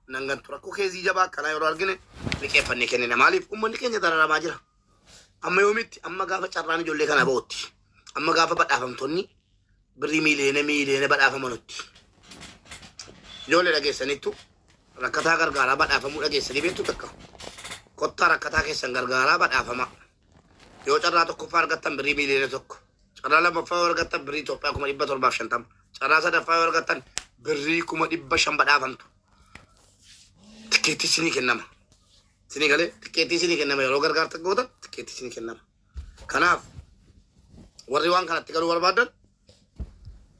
nan gantu rakkoo keezii jabaa akkanaa yeroo argine liqeeffannee kennina maaliif ummanni keenya dararamaa jira amma yoomitti amma gaafa carraan ijoollee kana ba'utti amma gaafa badhaafamtonni birrii miiliyoona miiliyoona badhaafamanutti ijoollee dhageessanittu rakkataa gargaaraa badhaafamuu dhageessanii beektu takka kottaa rakkataa keessan gargaaraa badhaafamaa Yoo carraa tokkoffaa argattan birrii miiliyoona tokko, carraa lammaffaa yoo argattan birrii Itoophiyaa kuma dhibba torbaaf shantama, carraa sadaffaa yoo argattan birrii kuma dhibba shan badhaafamtu. Tikkeettii isinii kennama. Isinii galee tikkeettii isinii kennama yeroo gargaarsa gootan tikkeettii isinii kennama. Kanaaf warri waan kanatti galuu barbaadan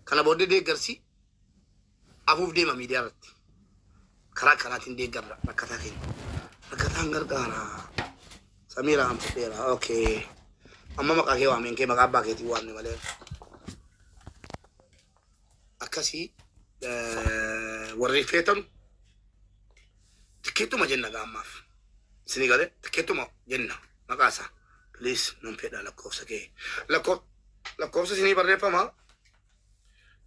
kana booddee deeggarsi afuuf deema miidiyaa irratti. Karaa kanaatiin deeggarra rakkataa keenya. Rakkataan gargaara. Samiiraa an fudheera. Okay. Amma maqaa kee waameen kee maqaa abbaa keetiin waamne malee. Akkasii eh, warri feetan tikkeettuma jenna gaa ammaaf. Isinii galee tikkeettuma jenna maqaa isaa. Please nan fedha lakkoofsa kee. Lakkoo- Lakkoofsa isinii barreeffama.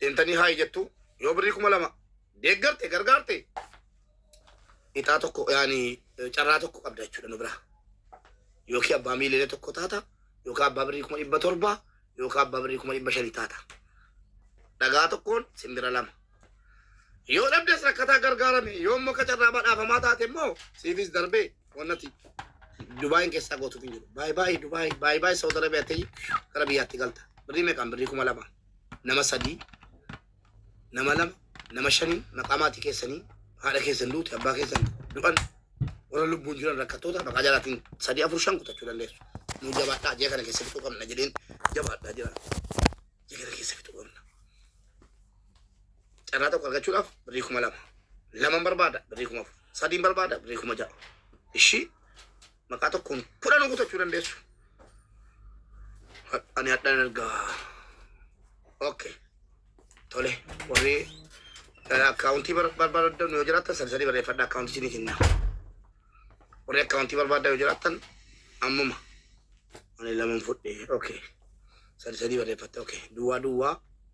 deemtanii haayi jettu yoo birrii kuma lama deeggarte gargaarte ixaa tokko yaani eh, carraa tokko qabda jechuudha nu biraa yookiin abbaa miiliyoona tokko taata yookiin abbaa birrii kuma dhibba torba yookiin abbaa birrii kuma dhibba shanii taata dhagaa tokkoon simbira lama yoo dhabdes rakkataa gargaarame yoo immoo kacarraa badhaafamaa taate immoo siifis darbee Wan ati Dubai keessaa gootuuf hin jiru. Baay baay Dubai, baay baay Saudi Arabia ta'ii gara biyyaatti galta. Birrii meeqaan? Birrii kuma lama. Nama sadii, nama lama, nama shaniin maqaa maatii keessanii haadha keessan duute abbaa keessan du'an warra lubbuun jiran rakkattoota maqaa jalaatiin sadii afur shan kutachuu dandeessu. Nuu jabaadhaa jee kana keessa fixuu qabna jedheen jabaadhaa jira. Jee kana keessa fixuu qabna. Carraa tokko argachuudhaaf birrii kuma lama. Laman barbaada birrii kuma afur. Sadiin barbaada birrii kuma ja'a. Ishii maqaa tokkoon kudhan kutachuu dandeessu. Ha- Ani hadhaan ergaa. Okay. Tole warri eh, akkaawuntii bar- barbaadan yoo jiraattan sadi sadi barreeffadha akkaawuntii isinii kenna. Warri akkaawuntii barbaadan yoo jiraattan ammuma. Ani laman fudhe. Okay. Sadi sadi barreeffatte. Okay. Duwwaa duwwaa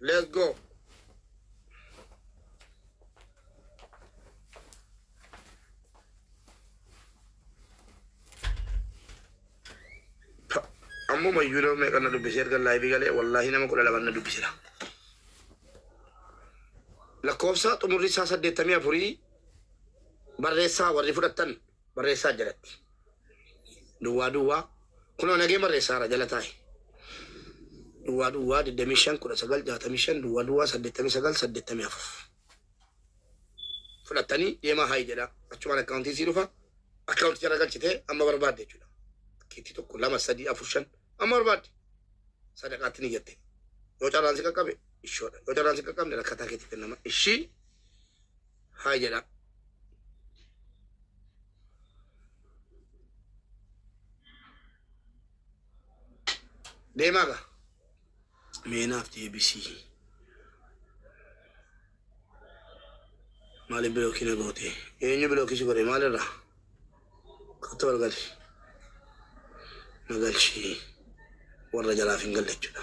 Let's go. Ammuma iyyuu nama meeqa na dubbise erga laayivii galee wallaahi nama kudha lama na dubbisera. Lakkoofsa xumurri isaa saddeettamii afurii barreessaa warri fudhattan Barreessaa jalatti. Duwwaa duwwaa Kunoo nagee barreessaara jala taa'i. Duwwaa duwwaa 25 19 65 Duwwaa duwwaa 89 84 Fudhattanii deemaa haayi jedhaa. Achumaan akkaawuntiin sii dhufa. Akkaawunticha irra galchitee amma barbaadde jechuudha. Keetti tokko lama sadii afur shan amma barbaadde sadaqaatti ni jette. Yoo carraan si qaqqabe ishoodha. Yoo carraan si qaqqabne rakkataa keetti kennama. Ishii haa jedha. Deemaa gaa. Meenaaf deebisii. Maaliif bilookii na goote? Eenyu bilookii si godhe maalirraa? Kattoo wal gali. Na galchii. Warra jalaaf hin galle jechuudha.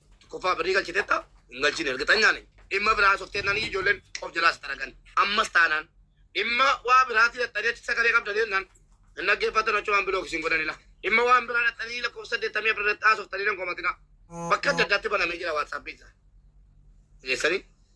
Tokkoffaa birrii galchiteetta hin galchine ergixanyaa nani. Dhimma biraa softee nani ijoolleen of jalaas xaragan. Ammas taanaan dhimma waa biraati dhaxxaneetti sagalee qabda deemnaan hin dhaggeeffatan achi waan bilook isin godhanila. Dhimma waan biraa dhaxxanii lakkoofsa saddeettamii afur irratti haasoftanii nan komatina. Bakka adda addaatti banamee jira waatsaappii isaa. Geessanii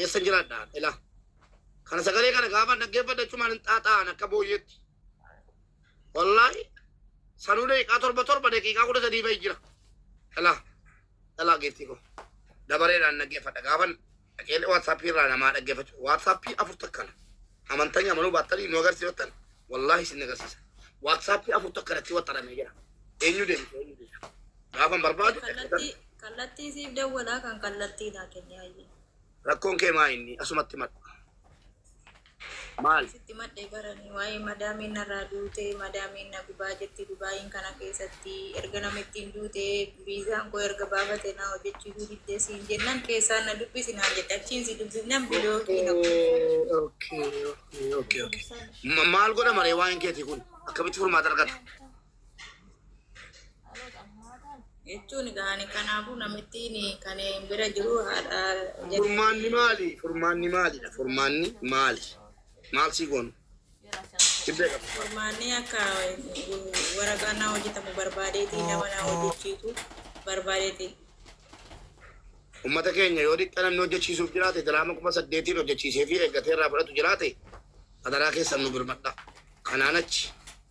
Eessan jiraadha ila. Kana sagalee kana gaafa dhaggeeffadhu achumaan hin xaaxa'an akka booyyeetti. Wallaahi sanuu daqiiqaa torba torba daqiiqaa kudha sadii fa'i jira. Ila ila geettii koo. Dabareedhaan dhaggeeffadha gaafan dhaqee waatsaappii irraa namaa dhaggeeffachu. Waatsaappii afur takkana. Amantanya amanuu baattanii nu agarsiifattan wallaahi isin agarsiisa. Waatsaappii afur takkanatti waxxaramee jira. Eenyu deemte eenyu deemte. Gaafan barbaadu dhaggeeffadha. Kallattii Kallattii siif dawwalaa kan kallattii naa kenni hayyee. Rakkoon kee maa inni asumatti madhu. Maal? Sitti madhee baranii waa'ee madaamiin narraa duute madaamiin na gubaa jetti dubaayiin kana keessatti erga namittiin duute viizaan koo erga baafate naa hojjechiisuu diddee siin jennan keessaan na dubbisi naan jette achiin si dubbifnan bilookii na Okay, okay, okay, okay, okay. Ma- Maal godha maree waa'een keetii kun akkamitti furmaata argata? jechuun gaani kanaafuu namittiin kan bira jiru haadha jedhu Furmaanni maali? Furmaanni maalidha? Furmaanni maali? Maal sii goonu? Tibbee qaba. furmaanni akka waraqaa naa hojjetamu barbaadeeti nama naa hojjechiisu barbaadeeti Uummata keenya yoo xiqqa namni hojjechiisuuf jiraate diraama kuma saddeetiin hojjechiisee fi eeggatee irraa fudhatu jiraate adaraa keessan nu birmadha. Kanaan achi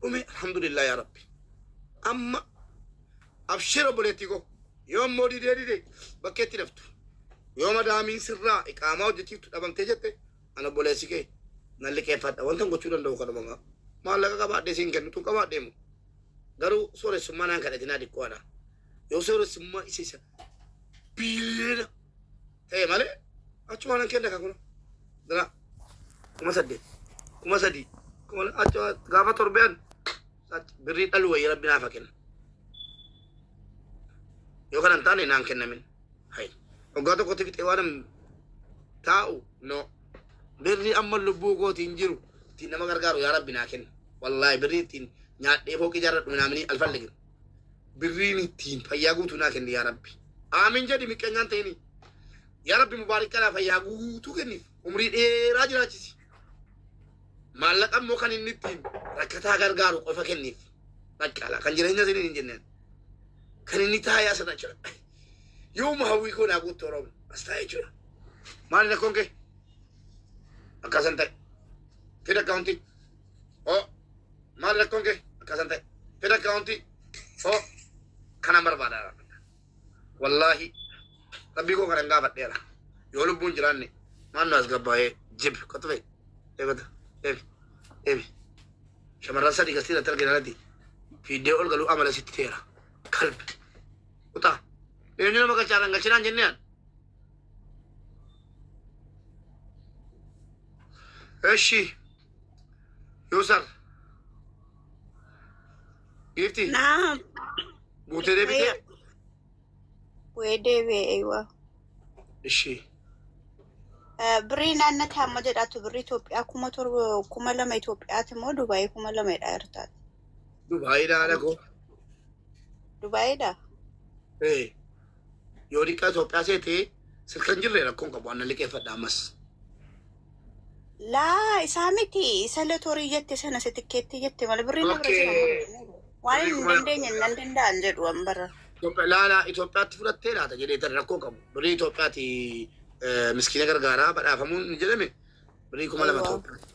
dhume alhamdulillah yaa rabbi amma abshir obboleettii koo yoo immoo didee dide bakkeetti daftu yoo madaamiin sirraa iqaamaa hojjechiiftu dhabamtee jette an obboleessi kee nan liqeeffadha wantan gochuu danda'u kanuma gaa maallaqa qabaadhee siin kennitu qabaadhee moo garuu sooressummaa naan kadhatinaa diqqoodha yoo sooressummaa isa isa biiliyoona ta'e malee achumaan nan kenna kakuna dira kuma saddeet kuma sadii kuma achu gaafa torbeen birrii dhalu wayya rabbi naafa kenna yoo kana hin taane naan kennamin hay waggaa tokkotti fixee waan taa'u no birrii amma lubbuu kooti hin jiru ittiin nama gargaaru yaa rabbi naa kenna wallaahi birrii ittiin nyaadhee fooqii jaarradhu minaamini alfalligin birriin ittiin fayyaa guutuu naa kenni yaa rabbi aamin jedhi miqqanyaan ta'ini yaa rabbi mubaarik kanaa fayyaa guutuu kenniif umrii dheeraa jiraachisi maallaqa immoo kan inni ittiin rakkataa gargaaru qofa kenniif baqqaala kan jireenya isiniin hin jenneen kan inni taayaa sana jira yooma hawwii koo naa guutte oromo as taa'ee jira maali rakkoon kee akkaasan ta'e fida akkaawuntii oo maal rakkoon kee akkasan ta'e fedha akkaawuntii oo kanan barbaada wallaahi rabbii koo kanan gaafadheera yoo lubbuun jiraanne maal nu as gabbaa'ee jib qotu ta'e eegata eeg eeg shamarran sadii gastii irratti argina irratti fiiddee ol galuu amala sitti ta'eera kalbi kutaa eenyu nama galchaanan galchinaan jenneen እሺ Yusar. Giifti. Naam. Guutee deebitee. Wee deebi'ee eeywaa. Ishii. Birrii naannoo taa'amma jedhaatu birrii Itoophiyaa kuma torba kuma lama Itoophiyaati immoo Dubaayii kuma lama jedhaa jirtaati. Dubaayiidha haadha koo. Dubaayiidha. Ee. Yoo liqaa Itoophiyaa seete sirkan jirre rakkoon qabu anna liqeeffadha ammas. Laa isaa miti isa latorii jette sana isa tikkeettii jette malee birrii na bira Okay. jira malee. Waan Birrii hin kuma- dandeenye nan danda'an jedhu an bara. Itoophiyaa laala Itoophiyaatti fudhattee laata jedhee tan rakkoo qabu. Birrii Itoophiyaati eh, miskiina gargaaraa badhaafamuun ni jedhame. Birrii kuma lama Aywa. Itoophiyaa.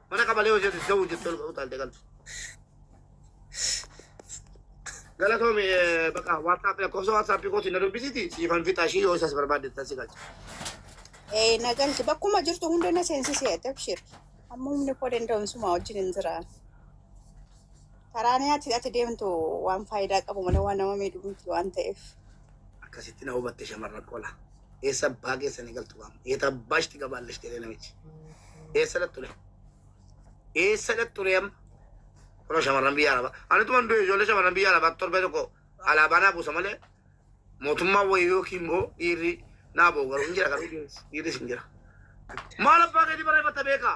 Mana qabalee hojjetu isa ta'uu jettee ol utaalte galtu. Galatoomi eh, baqa WhatsApp lakkoofsa WhatsApp kootiin na dubbisiti siifan fixaa ishii yoo isas barbaaddeettan si galcha. Ee na galti bakkuma jirtu hunda na seensisee tabshir amma humni koo danda'uun suma wajjin hin jira. Karaan ati ati deemtu waan faayidaa qabu malee waan nama miidhu miti waan ta'eef. Akkasitti na hubatte shamarran qola. Eessa abbaa keessan eegaltu gaam. Eeta abbaa ishti gabaallash jedhee namichi. Eessa dhaxxure? Eessa dhaxxure amma? Kunoo shamarran biyya arabaa. Ani tuman du'e ijoollee shamarran biyya arabaa torbee tokko alaabaa naa buusa malee mootummaa wayii yookiin immoo dhiirri naa boogaru hin jira garuu dhiirris hin jira. Maal abbaa keetii barreeffatta beekaa?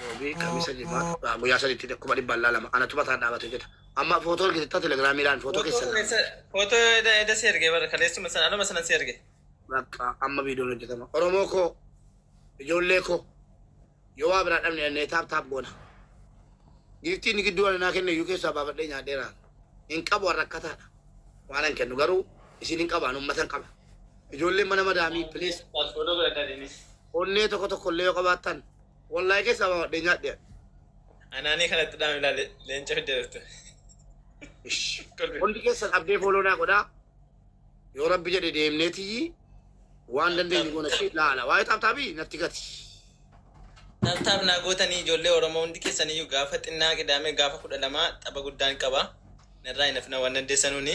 Roobii kamisa jimaata guyyaa sadiitti kuma dhibba allaa lama anatu mataa dhaabate hojjeta. Amma footoo argitetta telegiraamii laan footoo keessan laan. Footoo eda eda si erge bara kaleessuma sana anuma sana si erge. Bakka amma viidiyoon hojjetama. Oromoo koo ijoollee koo yoo waa biraa dhabne dhannee taap taap goona. Giiftii inni gidduu ananaa kenne iyyuu keessaa baafadhee nyaadheera. Hin qabu warra akkataadha. Waan hin kennu garuu isin hin qabaan uummatan qaba. Ijoolleen mana madaamii please. Footoo godhadhaa deemis. Onnee tokko tokko illee yoo qabaattan wallahi keessaa baawadhee nyaadhe ani. Anaanii kanatti dhaam ilaale leenca fidde dhufte. Ish. Kolfi. Hundi keessan abdee fooloo naa godhaa. Yoo rabbi jedhe deemnee tiyyi waan dandeenyu goona ishee laala. Waa'ee taaptaabii natti gati. Taaptaap naa gootanii ijoollee Oromoo hundi keessaniyyuu gaafa xinnaa qidaamee gaafa kudha lamaa tapha guddaan qaba. Narraa hin hafina waan dandeessanuuni.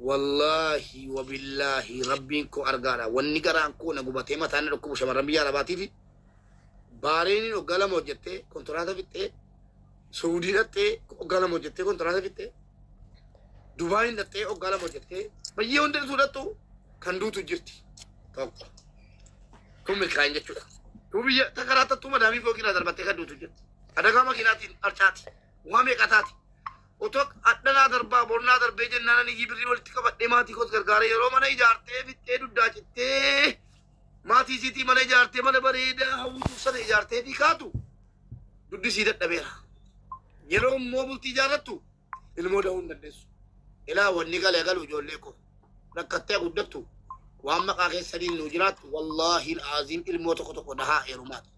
Wallaahi wabillaahi rabbiin koo argaadha wanni garaan koo na gubatee mataan na dhukkubu shamarran biyya arabaatiifi baareeniin hoggaa lama hojjettee kontiraata fixxee suudii dhaxxee hoggaa lama hojjettee kontiraata fixxee dubaayin dhaxxee hoggaa lama hojjettee bayyee hundi dhufuu dhaxxu kan duutu jirti tokko kun milkaa'in jechuudha duu biyya takaraattattuu madaamii fooqiirraa darbattee kan duutu jirti adagaa makiinaatiin arcaati waa meeqataati Otok, Hadha naa darbaa, bor naa darbee jennaan ani iyyii birrii walitti qabadhee maatii koos gargaaree yeroo mana ijaartee fixxee duddaa cittee maatii isiitii mana ijaartee mana bareedaa hawwituuf sana ijaartee fi kaatu duddi isii dadhabeera. Yeroo immoo bultii ijaarrattu ilmoo da'uu hin dandeessu. Ilaa wanni galee galu ijoollee koo rakkattee guddattu waan maqaa keessaniin nuu jiraattu wallaahi aziim ilmoo tokko tokko dahaa heerumaati.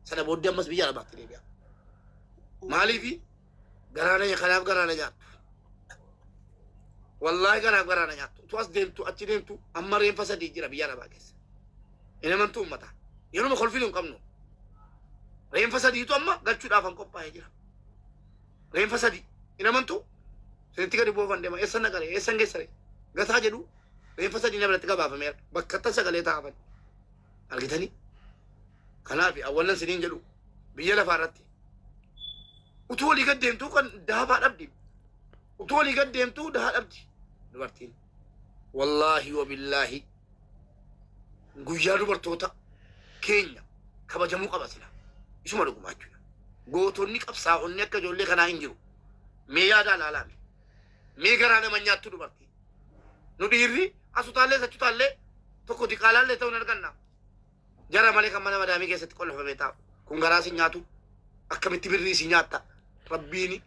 Sana booddee ammas biyya arabaatti deebi'a. Maaliifi? Garaa na nya- kanaaf garaa na nyaattu. Wallaahi kanaaf garaa na nyaattu. Utuu as deemtu achi deemtu amma reenfa sadii jira biyya arabaa keessa. Hin amantuu ummata. Yeruma kolfinu hin qabnu. Reenfa sadiitu amma galchuudhaaf an qophaa'ee jira. Reenfa sadii. Hin amantuu? Sinitti gadi buufan deema. Eessa na qaree? Eessa geessare? Gataa jedhu reenfa sadii na biratti gabaafameera. Bakka tasa galee taa'aman. Argitanii? Kanaaf awwannan siniin jedhu biyya lafaa irratti Utuu olii gad deemtuu kan dahabaa dhabdi. Utuu olii gad deemtuu dahaa dhabdi dubartiin. Wallaahi wabillaahi guyyaa dubartoota keenya kabajamuu qaba sila. Isuma dhugumaa jechuudha. Gootonni qabsaa'onni akka ijoollee kanaa hin jiru. Mee yaadaa laalaame. Mee garaa nama nyaattu dubartii. Nu dhiirri asutaallee sachutaallee tokko diqaalaallee ta'uu hin arganna. Gara malee kan mana madaamii keessatti qollafamee taa'u. Kun garaa isin nyaatu. Akkamitti birrii isin nyaatta? Rabbiini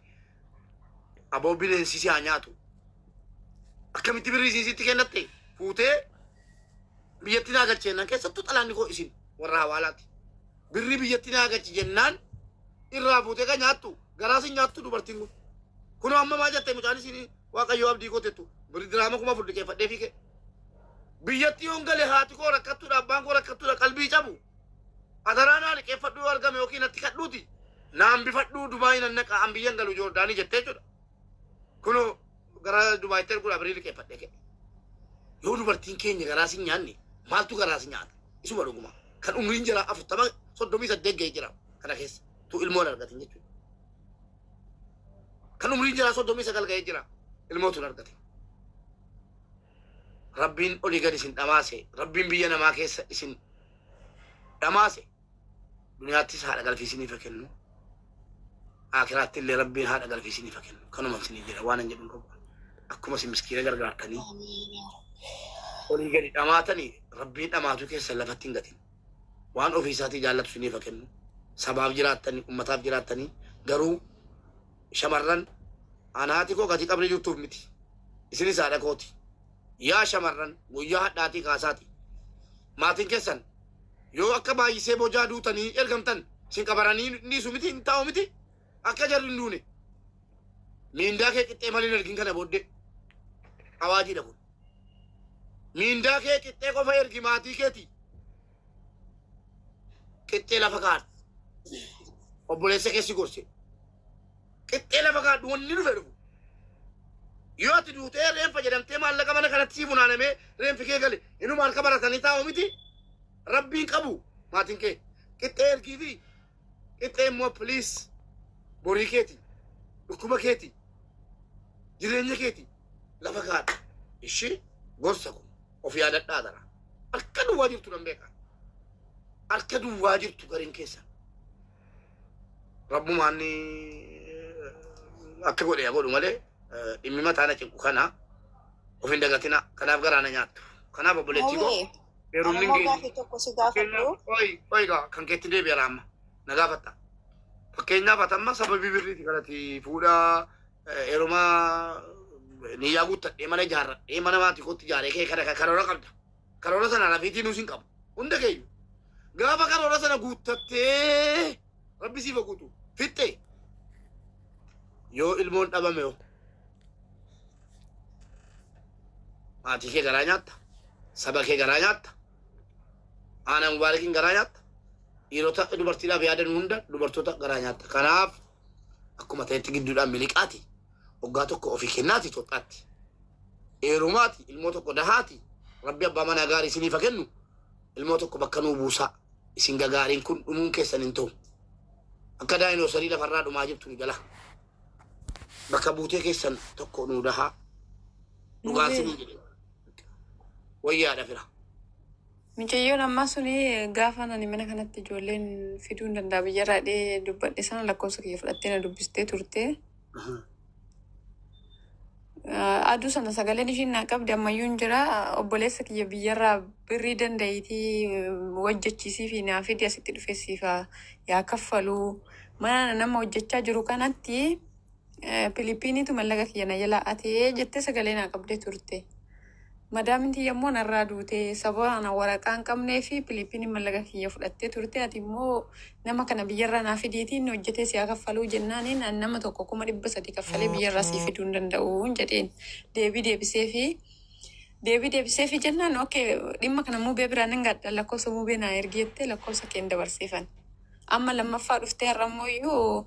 aboo bineensi si haa nyaatu. Akkamitti birrii isin sitti kennatte? Fuutee biyyatti naa galche jennaan keessattuu xalaanni koo isin warra hawaalaati. Birrii biyyatti naa galche jennaan irraa fuutee kan nyaattu garaa isin nyaattu dubartiin kun. Kunoo amma maa jette mucaan isin Waaqayyoo abdii koo tettu biri diraama kuma afur liqeeffadhee fiige. Biyyatti yoon gale haati koo rakkattuudha abbaan koo rakkattuudha qalbii cabu. Adaraa naa liqeeffadhu yoo argame yookiin natti kadhuuti naa hambifadhu Dubaay nan naqa an biyyan galu Joordaanii jettee jechuudha. Kunoo gara Dubaayitti erguudha birii liqeeffadhee ka'e. Yoo dubartiin keenya garaa si nyaanne maaltu garaa si nyaata? Isuma dhuguma kan umriin jira afurtama soddomii saddeet ga'ee jira kana keessa tu ilmoo hin argatin jechuudha. kan umriin jiraa soddomii sagal ga'ee jira ilmoo tun argate rabbiin olii gad isin dhamaase rabbiin biyya namaa keessa isin dhamaase duniyaattis haadha galfiisiniif haa kennu akiraatti illee rabbiin haadha galfiisiniif haa kennu kanuma isinii jedha waan hin jedhin qabu akkuma isin miskiina gargaartanii olii gadi dhamaatanii rabbiin dhamaatuu keessa lafatti hin gatin waan ofii isaatii jaallatu isiniif haa kennu. Sabaaf jiraattanii, ummataaf jiraattanii garuu shamarran an haati koo gati qabrii jirtuuf miti. Isinis haadha kooti. Yaa shamarran guyyaa hadhaatii kaasaati. Maatiin keessan yoo akka baay'isee bojaa duutanii ergamtan isin qabaranii dhiisu miti hin taa'u miti. Akka jarri hin duune. Miindaa kee qixxee malee hin ergin kana booddee. Awaajiidha kun. Miindaa kee qixxee qofa ergi maatii keeti. Qixxee lafa kaadhu. Obboleessa keessi gorse. Qixxee lafa kaadhu wanni dhufe dhufu. Yoo ati duutee reenfa jedhamtee maallaqa mana kanatti sii funaanamee reenfi kee gale inuma harka baratanii taa'u miti. Rabbiin qabu maatiin kee. Qixxee ergii fi Qixxee immoo please borii keeti dhukkuba keeti jireenya keeti lafa kaadha ishii gorsa kun of yaadadhaa dara harka duwwaa jirtu nan beeka harka duwwaa jirtu gariin keessa rabbumaan ni akka godhe yaa godhu malee eh, dhimmi mataa na cinqu kana of hin dagatina kanaaf garaana nyaattu kanaaf obboleettii koo Hawwee. Heerumni Ammoo keenya gaaffii tokko si gaafadhu. fakkeenyaaf qoyi qoyi gaa kan keetti deebi'ara amma na gaafatta. Fakkeenyaaf ati amma sababii birriiti kanati fuudha eh, heeruma niyyaa guuttadhee mana ijaarradhee mana maatii kootti ijaaree kee kana karoora qabda. Karoora sana rafiitii nuus hin qabu. Hunda keenya. Gaafa karoora sana guuttattee Rabbi siif haguutu. Fixxe. Yoo ilmoon dhabame hoo? Maatii kee garaa nyaatta. Saba kee garaa nyaatta. Aanaa mubaarakiin garaa nyaatta. Dhiirota dubartiidhaaf yaadan hunda dubartoota garaa nyaatta. Kanaaf akkuma ta'etti gidduudhaan miliqaati. Waggaa tokko ofii kennaati Itoophiyaatti. Eerumaati ilmoo tokko dahaati. Rabbi abbaa manaa gaarii isiniif haa kennu. Ilmoo tokko bakka nuu buusaa. isin gagaariin kun dhumuun keessan hin ta'u. Akka daayinoosarii lafarraa dhumaa jirtu nu jala. Bakka buutee keessan tokko nu dahaa. Dhugaa Nuti- sinii jedhe. Wayyaadha fira. Micayyoon ammaa suni gaafa ani mana kanatti ijoolleen fiduu hin danda'a biyyarraa dhee dubbadhe sana lakkoofsa kiyya fudhattee na dubbistee turte. Aduu sana sagaleen ishiin naa qabdi ammayyuu hin jira. Obboleessa kiyya biyyarraa birrii danda'iitii hojjechiisii fi naa fidi asitti dhufee siif haa- yaa kaffaluu. Mana nama hojjechaa jiru kanatti eh, Piliippiiniitu mallaqa kiyya na jalaa atee jettee sagalee naa qabdee turte. Madaamin tiyya immoo narraa duute. Sababa ana waraqaa hin qabnee fi Piliippiiniin mallaqa kiyya fudhattee turte. Ati immoo nama kana biyyarraa naa fidiitii inni hojjetee si haa kaffaluu jennaaniin ani nama tokko kuma dhibba sadii kaffalee biyyarraa sii fiduu hin danda'uun jedheen. Deebii deebiseefi. Deebii deebiseefi jennaan oke dhimma kana muubee biraa nan gaadha lakkoofsa muubee naa ergi jettee lakkoofsa keen dabarseefan. Amma lammaffaa dhuftee har'a immoo iyyuu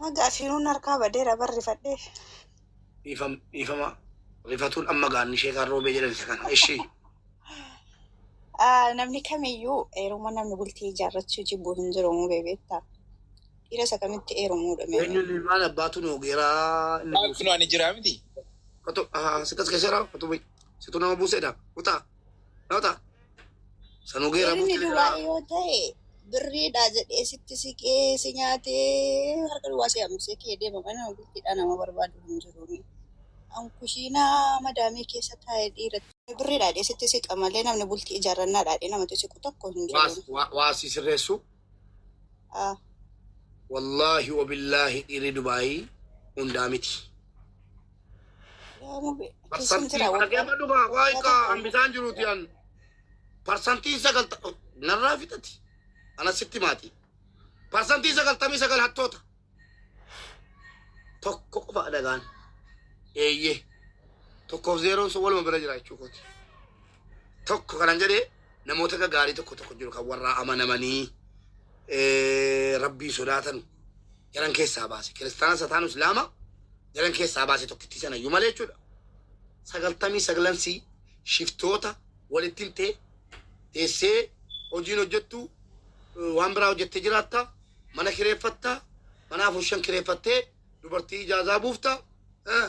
Maga afiiruun harkaa badeera bar rifadhee. Dhiifam dhiifama rifatuun amma gaanni ishee kan roobee jedhan isa kana. Ishii Ah, Namni kamiyyuu eeruma namni bultii ijaarrachuu jibbu hin jiru moo beekta. Dhiira isa kamitti eerumuudha mee. eenyuun ilmaan abbaatu nu ogeeraa inni Maal buuse. kunoo ani jiraa miti? Kotu ah sikas keessa jira kotu situ nama buuseedha kutaa. Nota. Sanu gera Dhiirri butte duraa jira. yoo ta'e birriidha jedhee sitti siqee si nyaatee harka duwwaa si hambisee kee deema mana bultiidhaa nama barbaadu hin jiru. An kushiinaa madaamii keessa taa'ee dhiira birriidha jedhee sitti siqa malee namni bultii ijaarrannaadha jedhee namatti siqu tokko hin jiru. Waas waa waa si sirreessu. Ah, Wallaahi wabillaahi dhiirri Dubaayii hundaa miti. Yaa Rabbi, keessan Parsantii jira waggaa. dhaggeeffa dhumaa waa hiika hambisaan jiruuti an parsantii sagalta narraa fixati ana sitti maati parsantii sagaltamii sagal hattoota tokko qofa dhagaan eeyyee tokkoof zeeroon sun waluma bira jira jechuu kooti tokko kanan jedhee namoota gaggaarii tokko tokko jiru kan warraa amanamanii eh, rabbii sodaatan jaran keessaa baase kiristaana sataanu islaama jalan keessaa baase tokkittii sanayyuu malee jechuudha. Sagaltamii saglan sii shiftoota walitti himtee teessee hojiin hojjettu eh, waan biraa hojjettee jiraatta mana kireeffatta mana afur shan kireeffattee dubartii ijaazaa buufta eh,